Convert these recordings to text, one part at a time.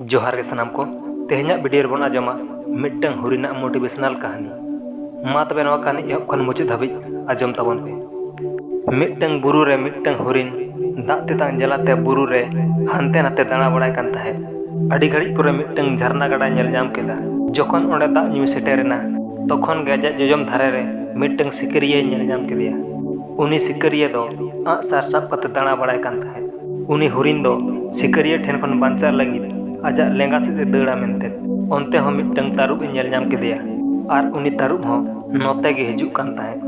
ᱡᱚᱦᱟᱨ ᱜᱮ ᱥᱟᱱᱟᱢ ᱠᱚ ᱛᱮᱦᱮᱧᱟᱜ ᱵᱷᱤᱰᱤᱭᱳ ᱨᱮᱵᱚᱱ ᱟᱸᱡᱚᱢᱟ ᱢᱤᱫᱴᱟᱝ ᱦᱩᱨᱤᱱᱟᱜ ᱢᱳᱴᱤᱵᱷᱮᱥᱚᱱᱟᱞ ᱠᱟᱹᱦᱱᱤ ᱢᱟ ᱛᱚᱵᱮ ᱱᱚᱣᱟ ᱠᱟᱹᱦᱱᱤ ᱮᱦᱚᱵ ᱠᱷᱚᱱ ᱢᱩᱪᱟᱹᱫ ᱫᱷᱟᱹᱵᱤᱡ ᱟᱸᱡᱚᱢ ᱛᱟᱵᱚᱱ ᱯᱮ ᱢᱤᱫᱴᱟᱝ ᱵᱩᱨᱩ ᱨᱮ ᱢᱤᱫᱴᱟᱝ ᱦᱩᱨᱤᱱ ᱫᱟᱜ ᱛᱮᱛᱟᱝ ᱡᱟᱞᱟᱛᱮ ᱵᱩᱨᱩ ᱨᱮ ᱦᱟᱱᱛᱮ ᱱᱟᱛᱮ ᱫᱟᱬᱟ ᱵᱟᱲᱟᱭ ᱠᱟᱱ ᱛᱟᱦᱮᱸᱫ ᱟᱹᱰᱤ ᱜᱷᱟᱹᱲᱤᱡ ᱯᱚᱨᱮ ᱢᱤᱫᱴᱟᱝ ᱡᱷᱟᱨᱱᱟ ᱜᱟᱰᱟ ᱧᱮᱞ ᱧᱟᱢ ᱠᱮᱫᱟ ᱡᱚᱠᱷᱚᱱ ᱚᱸᱰᱮ ᱫᱟᱜ ᱧᱩᱭ ᱥᱮᱴᱮᱨᱮᱱᱟ ᱛᱚᱠᱷᱚᱱ ᱜᱮ ᱟᱡᱟᱜ ᱡᱚᱡᱚᱢ ᱫᱷᱟᱨᱮ ᱨᱮ ᱢᱤᱫᱴᱟᱝ ᱥᱤᱠᱟᱹᱨᱤᱭᱟᱹᱭ ᱧᱮᱞ ᱧᱟᱢ ᱠᱮᱫᱮᱭᱟ ᱩᱱᱤ ᱥᱤᱠᱟᱹᱨᱤᱭᱟᱹ ᱫᱚ ᱟᱸᱜ ᱥᱟᱨ ᱥᱟᱵ ᱠᱟᱛᱮ ᱫᱟᱬᱟ ᱵᱟᱲᱟᱭ ᱠᱟᱱ ᱛᱟᱦᱮᱸᱫ ᱩᱱᱤ ᱦᱚᱨᱤᱱ ᱫᱚ ᱥᱤᱠᱟᱹᱨᱤᱭᱟᱹ ᱴᱷᱮᱱ ᱠᱷᱚᱱ ᱵᱟᱧᱪᱟᱜ ᱞᱟᱹᱜᱤᱫ ᱟᱡᱟᱜ ᱞᱮᱸᱜᱟ ᱥᱮᱫ ᱮ ᱫᱟᱹᱲᱟ ᱢᱮᱱᱛᱮ ᱚᱱᱛᱮ ᱦᱚᱸ ᱢᱤᱫᱴᱟᱝ ᱛᱟᱹᱨᱩᱵ ᱮ ᱧᱮᱞ ᱧᱟᱢ ᱠᱮᱫᱮᱭᱟ ᱟᱨ ᱩᱱᱤ ᱛᱟᱹᱨᱩᱵ ᱦᱚᱸ ᱱᱚᱛᱮ ᱜᱮ ᱦᱤᱡᱩᱜ ᱠᱟᱱ ᱛᱟᱦᱮᱸᱫ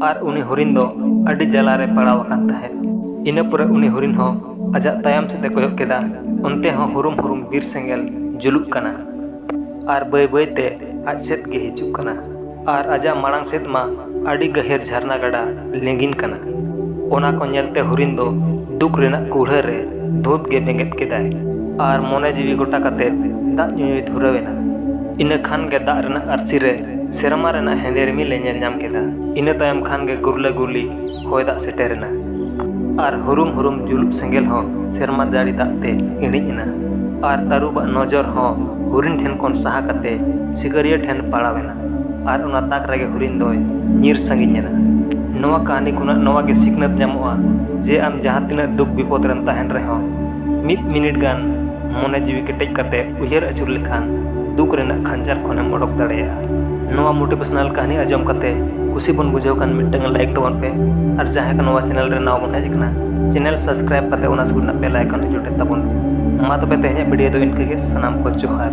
ᱟᱨ ᱩᱱᱤ ᱦᱚᱨᱤᱱ ᱫᱚ ᱟᱹᱰᱤ ᱡᱟᱞᱟ ᱨᱮ ᱯᱟᱲᱟᱣ ᱟᱠᱟᱱ ᱛᱟᱦᱮᱸᱫ ᱤᱱᱟᱹ ᱯᱚᱨᱮ ᱩᱱᱤ ᱦᱚᱨᱤᱱ ᱦᱚᱸ ᱟᱡᱟᱜ ᱛᱟᱭᱚᱢ ᱥᱮᱫ ᱮ ᱠᱚᱭᱚᱜ ᱠᱮᱫᱟ ᱚᱱᱛᱮ ᱦᱚᱸ ᱦᱩᱨᱩᱢ ᱦᱩᱨᱩᱢ ᱵᱤᱨ ᱥᱮᱸᱜᱮᱞ ᱡᱩᱞᱩᱜ ᱠᱟᱱᱟ ᱟᱨ ᱵᱟᱹᱭ ᱵᱟᱹᱭ ᱛᱮ ᱟᱡ ᱥᱮᱫ ᱜᱮ ᱦᱤᱡᱩᱜ ᱠᱟᱱᱟ ᱟᱨ ᱟᱡᱟᱜ ᱢᱟᱲᱟᱝ ᱥᱮᱫ ᱢᱟ ᱟᱹᱰᱤ ᱜᱟᱹᱦᱤᱨ ᱡᱷᱟᱨᱱᱟ ᱜᱟᱰᱟ ᱞᱤᱸᱜᱤᱱ ᱠᱟᱱᱟ᱾ ᱚᱱᱟ ᱠᱚ ᱧᱮᱞ ᱛᱮ ᱦᱚᱨᱤᱱ ᱫᱚ ᱫᱩᱠ ᱨᱮᱱᱟᱜ ᱠᱩᱲᱦᱟᱹ ᱨᱮ ᱫᱷᱩᱸᱛ ᱜᱮ ᱵᱮᱸᱜᱮᱫ ᱠᱮᱫᱟᱭ ᱟᱨ ᱢᱚᱱᱮ ᱡᱤᱣᱤ ᱜᱚᱴᱟ ᱠᱟᱛᱮ ᱫᱟᱜ ᱧᱩᱭᱮ ᱫᱷᱩᱨᱟᱹᱣ ᱮᱱᱟ᱾ ᱤᱱᱟᱹ ᱠᱷᱟᱱ ᱜᱮ ᱫᱟᱜ ᱨᱮᱱᱟᱜ ᱟᱹᱨᱥᱤ ᱨᱮ ᱥᱮᱨᱢᱟ ᱨᱮᱱᱟᱜ ᱦᱮᱸᱫᱮ ᱨᱤᱢᱤᱞ ᱮ ᱧᱮᱞ ᱧᱟᱢ ᱠᱮᱫᱟ᱾ ᱤᱱᱟᱹ ᱛᱟᱭᱚᱢ ᱠᱷᱟᱱ ᱜᱮ ᱜᱩᱨᱞᱟᱹ ᱜᱩᱨᱞᱤ᱾ ᱦᱚᱭ ᱫᱟᱜ ᱥᱮᱴᱮᱨ ᱮᱱᱟ ᱟᱨ ᱦᱩᱨᱩᱢ ᱦᱩᱨᱩᱢ ᱡᱩᱞᱩᱜ ᱥᱮᱸᱜᱮᱞ ᱦᱚᱸ ᱥᱮᱨᱢᱟ ᱡᱟᱹᱲᱤ ᱫᱟᱜ ᱛᱮ ᱤᱬᱤᱡ ᱮᱱᱟ ᱟᱨ ᱛᱟᱹᱨᱩᱵᱟᱜ ᱱᱚᱡᱚᱨ ᱦᱚᱸ ᱦᱚᱨᱤᱱ ᱴᱷᱮᱱ ᱠᱷᱚᱱ ᱥᱟᱦᱟ ᱠᱟᱛᱮ ᱥᱤᱠᱟᱹᱨᱤᱭᱟᱹ ᱴᱷᱮᱱ ᱯᱟᱲᱟᱣ ᱮᱱᱟ ᱟᱨ ᱚᱱᱟ ᱛᱟᱠ ᱨᱮᱜᱮ ᱦᱚᱨᱤᱱ ᱫᱚᱭ ᱧᱤᱨ ᱥᱟᱺᱜᱤᱧ ᱮᱱᱟ ᱱᱚᱣᱟ ᱠᱟᱹᱦᱱᱤ ᱠᱷᱚᱱᱟᱜ ᱱᱚᱣᱟ ᱜᱮ ᱥᱤᱠᱷᱱᱟᱹᱛ ᱧᱟᱢᱚᱜᱼᱟ ᱡᱮ ᱟᱢ ᱡᱟᱦᱟᱸ ᱛᱤᱱᱟᱹᱜ ᱫᱩᱠ ᱵᱤᱯᱚᱫ ᱨᱮᱢ ᱛᱟᱦᱮᱱ ᱨᱮᱦᱚᱸ ᱢᱤᱫ ᱢᱤᱱᱤᱴ ᱜᱟᱱ ᱢᱚᱱᱮ ᱡᱤᱣᱤ ᱠᱮᱴᱮᱡ ᱠᱟᱛᱮ ᱩᱭᱦᱟᱹᱨ ᱟᱹᱪᱩᱨ ᱞᱮᱠᱷᱟᱱ ᱫᱩᱠ ᱨᱮᱱᱟᱜ ᱠᱷᱟᱧᱡᱟᱨ ᱠᱷᱚᱱᱮᱢ ᱚᱰᱚᱠ ᱫᱟᱲᱮᱭᱟᱜᱼᱟ ᱱᱚᱣᱟ ᱢᱳᱴᱤᱵᱷᱮᱥᱚᱱᱟᱞ ᱠᱟᱹᱦᱱᱤ ᱟᱸᱡᱚᱢ ᱠᱟᱛᱮ ᱠᱩᱥᱤ ᱵᱚᱱ ᱵᱩᱡᱷᱟᱹᱣ ᱠᱷᱟᱱ ᱢᱤᱫᱴᱟᱝ ᱞᱟᱭᱤᱠ ᱛᱟᱵᱚᱱ ᱯᱮ ᱟᱨ ᱡᱟᱦᱟᱸᱭ ᱠᱚ ᱱᱚᱣᱟ ᱪᱮᱱᱮᱞ ᱨᱮ ᱱᱟᱣᱟ ᱵᱚᱱ ᱦᱮᱡ ᱟᱠᱟᱱᱟ ᱪᱮᱱᱮᱞ ᱥᱟᱵᱥᱠᱨᱟᱭᱤᱵ ᱠᱟᱛᱮ ᱚᱱᱟ ᱥᱩᱨ ᱨᱮᱱᱟᱜ ᱵᱮᱞ ᱟᱭᱠᱚᱱ ᱡᱚᱴᱮᱫ ᱛᱟᱵᱚᱱ ᱢᱟ ᱛᱚᱵᱮ ᱛᱮᱦᱮᱧᱟᱜ ᱵᱷᱤᱰᱤᱭᱳ ᱫᱚ ᱤᱱᱠᱟᱹ ᱜᱮ ᱥᱟᱱᱟᱢ ᱠᱚ ᱡᱚᱦᱟᱨ